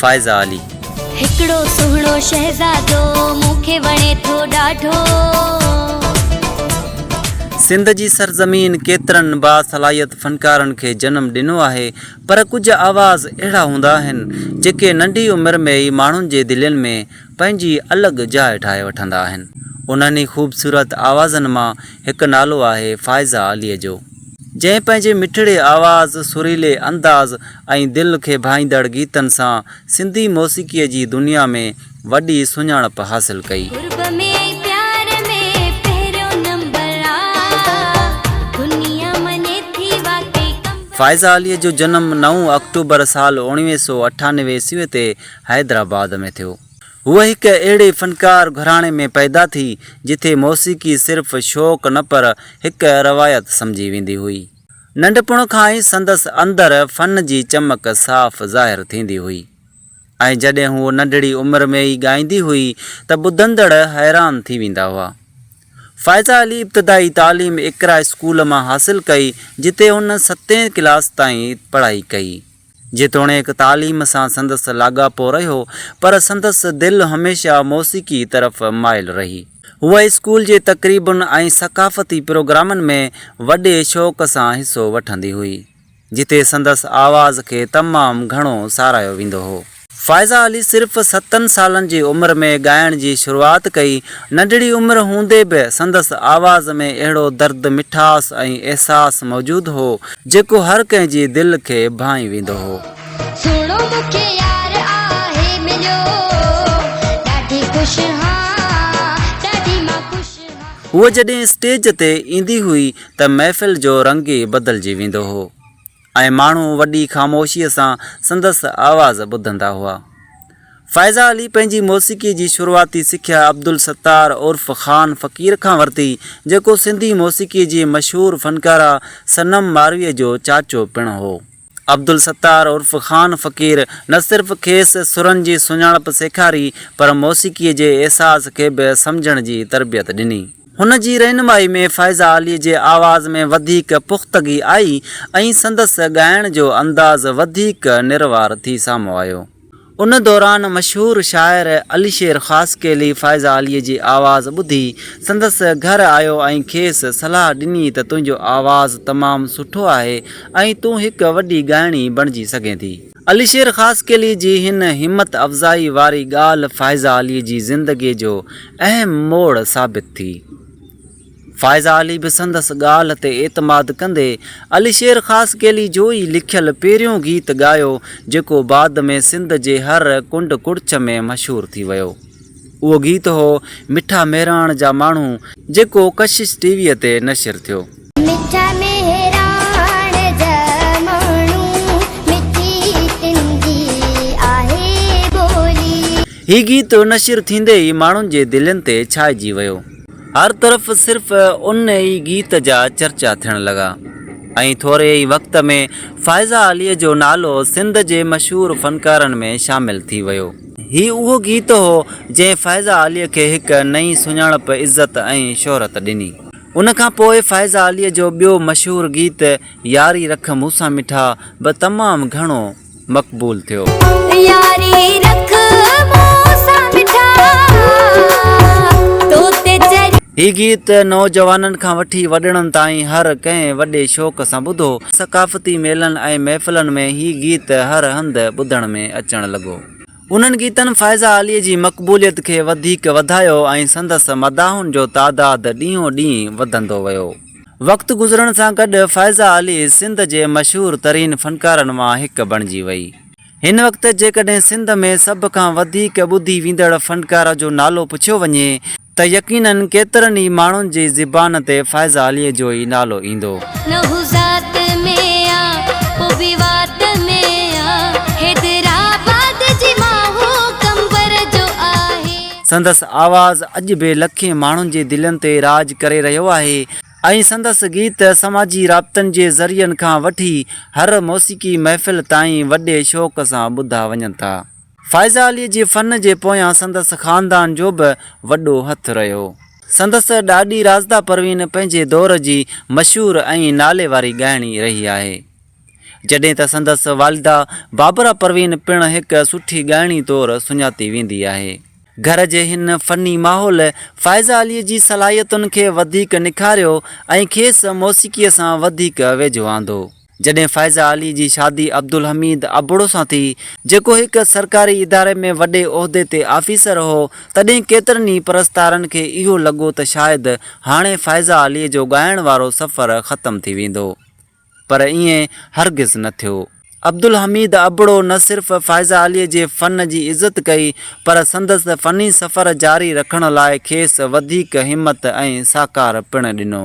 فائزه علي. هڪڙو سهڻو شهزادو مون کي وڻي ٿو ڏاڍو. سنڌ جي سرزمين ڪيترن باصلاحيت فنڪارن کي جنم ڏنو آهي پر ڪجهه آواز اهڙا هوندا آهن جيڪي ننڍي عمر ۾ ئي ماڻهن جي دلين ۾ پنهنجي الڳ جاء ٺاهي وٺندا آهن انهن ئي خوبصورت آوازن مان هڪ نالو آهي فائزه علي جو. جنهن پنهنجي مٺڙي آواز، سريلي انداز ۽ دل کي ڀائيندڙ گيتن سان سنڌي موسيقيء جي دنيا ۾ وڏي سڃاڻپ حاصل ڪئي. فائزه عليء جو جنم نو آڪٽوبر سال اوڻويهه سؤ اٺانوي عيسويء تي حيدرآباد ۾ ٿيو. هوء هڪ اهڙي فنڪار گهراڻي ۾ پيدا ٿي، جتي موسيقي صرف شوق نه پر هڪ روايت سمجهي ويندي هئي. ننڍپڻ کان ئي سندس اندر فن جي چمڪ صاف ظاهر ٿيندي هئي ۽ جڏهن هوء ننڍڙي عمر ۾ ئي ڳائيندي هئي ته ٻڌندڙ حيران ٿي ويندا هئا. فائزه علي ابتدائي تعليم اقرا اسڪول مان حاصل ڪئي، جتي هن ستين ڪلاس تائين پڙهائي ڪئي. جيتوڻيڪ تعليم سان سندس لاڳاپو رهيو، پر سندس دل هميشه موسيقي طرف مائل رهي. هوء اسڪول جي تقريبن ۽ ثقافتي پروگرامن ۾ وڏي شوق سان حصو وٺندي هئي، جتي سندس آواز کي تمام گهڻو ساراهيو ويندو هو. فائزه علي صرف ستن سالن جي عمر ۾ ڳائڻ جي شروعات ڪئي. ننڍڙي عمر هوندي به سندس آواز ۾ اهڙو درد، مٺاس ۽ احساس موجود هو، جيڪو هر ڪنهن جي دل کي ڀانئي ويندو هو. سهڻو مون کي يار آهي مليو ڏاڍي خوش هان ڏاڍي مان خوش هان. هوء جڏهن اسٽيج تي ايندي هئي ته محفل جو رنگ ئي بدلجي ويندو هو. ۽ ماڻهو وڏي خاموشيء سان سندس آواز ٻڌندا هئا. فائزه علي پنهنجي موسيقيء جي شروعاتي سکيا عبدالستار عرف خان فقير کان ورتي، جيڪو سنڌي موسيقيء جي مشهور فنڪاره صنم مارويء جو چاچو پڻ هو. عبدالستار عرف خان فقير نه صرف کيس سرن جي سڃاڻپ سيکاري، پر موسيقيء جي احساس کي به سمجهڻ جي تربيت ڏني. هن جي رهنمائي ۾ فائزه علي جي آواز ۾ وڌيڪ پختگي آئي ۽ سندس ڳائڻ جو انداز وڌيڪ نروار ٿي سامهون آيو. ان دوران مشهور شاعر علي شير خاصخيلي فائزه علي جي آواز ٻڌي سندس گهر آيو ۽ کيس صلاح ڏني ته تنهنجو آواز تمام سٺو آهي ۽ تون هڪ وڏي ڳائڻي بڻجي سگهين ٿي. علي شير خاصخيلي جي هن همت افزائي واري ڳالهه فائزه علي جي زندگي جو اهم موڙ ثابت ٿي. فائزه علي به سندس ڳالهه تي اعتماد ڪندي علي شير خاصخيلي جو ئي لکيل پهريون گيت ڳايو جيڪو بعد ۾ سنڌ جي هر ڪنڊ ڪڙڇ ۾ مشهور ٿي ويو. اهو گيت هو مٺا مهراڻ جا ماڻهو جيڪو ڪشش ٽي وي تي نشر ٿيو. مٺا مهراڻ جا ماڻهو مٺي تن جي آهي ٻولي. هي گيت نشر ٿيندي ئي ماڻهن جي دلين تي ڇائجي ويو. هر طرف صرف ان ئي گيت جا چرچا ٿيڻ لڳا ۽ ٿوري ئي وقت ۾ فائزه علي جو نالو سنڌ جي مشهور فنڪارن ۾ شامل ٿي ويو. هي اهو گيت هو، جنهن فائزه عاليء کي هڪ نئين سڃاڻپ، عزت ۽ شهرت ڏني. ان کان پوء فائزه عاليء جو ٻيو مشهور گيت ياري رک مون سان مٺا به تمام گهڻو مقبول ٿيو. ياري رک مون سان مٺا، تو تي چريا. هي گيت نوجوانن کان وٺي وڏڙن تائين هر ڪنهن وڏي شوق سان ٻڌو. ثقافتي ميلن ۽ محفلن ۾ هي گيت هر هنڌ ٻڌڻ ۾ اچڻ لڳو. انهن گيتن فائزه عاليء جي مقبوليت کي وڌيڪ وڌايو ۽ سندس مداحن جو تعداد ڏينهون ڏينهن وڌندو ويو. وقت گذرڻ سان گڏ فائزه عالي سنڌ جي مشهور ترين فنڪارن مان هڪ بڻجي وئي. هن وقت جيڪڏهن سنڌ ۾ سڀ کان وڌيڪ ٻڌي ويندڙ فنڪار جو نالو پڇيو وڃي ته يقينن ڪيترن ئي ماڻهن جي زبان تي فائزه عاليء جو ئي نالو ايندو. نه هو ذات ۾ آ پو به وات ۾ آ حيدرآباد جي مان هو قنبر جو آهي. سندس آواز اڄ به لکين ماڻهن جي دلين تي راڄ ڪري رهيو آهي ۽ سندس گيت سماجي رابطن جي ذريعن کان وٺي هر موسيقي محفل تائين وڏي شوق سان ٻڌا وڃن ٿا. فائزه عليء جي فن جي پويان سندس خاندان جو به وڏو هٿ رهيو. سندس ڏاڏي راشده پروين پنهنجي دور جي مشهور ۽ نالي واري ڳائڻي رهي آهي. جڏهن ته سندس والده بابره پروين پڻ هڪ سٺي ڳائڻي طور سڃاتي ويندي آهي. گهر جي هن فني ماحول فائزه عليء جي صلاحيتن کي وڌيڪ نکاريو ۽ کيس موسيقيء سان وڌيڪ ويجهو آندو. جڏهن فائزه علي جي شادي عبدالحميد ابڙو سان ٿي، جيڪو هڪ سرڪاري اداري ۾ وڏي عهدي تي آفيسر هو، تڏهن ڪيترن ئي پرستارن کي اهو لڳو ته شايد هاڻي فائزه علي جو ڳائڻ وارو سفر ختم ٿي ويندو. پر ائين هرگز نه ٿيو. عبدالحميد ابڙو نه صرف فائزه علي جي فن جي عزت ڪئي، پر سندس فني سفر جاري رکڻ لاء کيس وڌيڪ همت ۽ ساڪار پڻ ڏنو.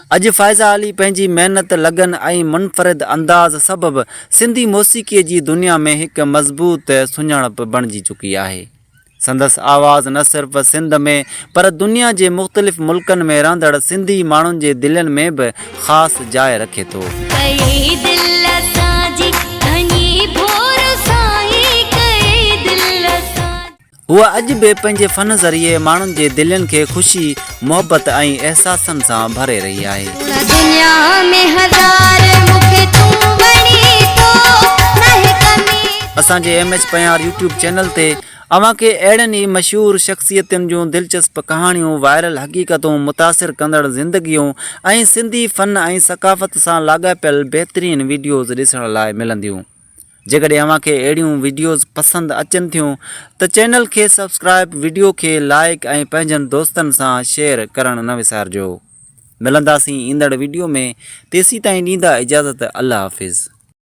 اڄ فائزه علي پنهنجي محنت، لگن ۽ منفرد انداز سبب سنڌي موسيقيء جي دنيا ۾ هڪ مضبوط سڃاڻپ بڻجي چڪي آهي. سندس آواز نه صرف سنڌ ۾ پر دنيا جي مختلف ملڪن ۾ رهندڙ سنڌي ماڻهن جي دلين ۾ به خاص جاء رکي ٿو. هوء اڄ به پنهنجي فن ذريعي ماڻهن جي دلين کي خوشي، محبت ۽ احساسن سان ڀري رهي آهي. سوڻا دنيا ۾ هزار مون کي تون وڻين ٿو ناهي ڪمي ڪا. اسان جي M H Panhyar YouTube channel تي اوهان کي اهڙين ئي مشهور شخصيتن جون دلچسپ ڪهاڻيون، وائرل حقيقتون، متاثر ڪندڙ زندگيون ۽ سنڌي فن ۽ ثقافت سان لاڳاپيل بهترين وڊيوز ڏسڻ لاء ملنديون. جيڪڏهن اوهان کي اهڙيون وڊيوز پسند اچن ٿيون ته چينل کي سبسڪرائب وڊيو کي لائيڪ ۽ پنهنجن دوستن سان شيئر ڪرڻ نه وسارجو ملنداسين ايندڙ وڊيو ۾ تيسيتائين ڏيندا اجازت الله حافظ.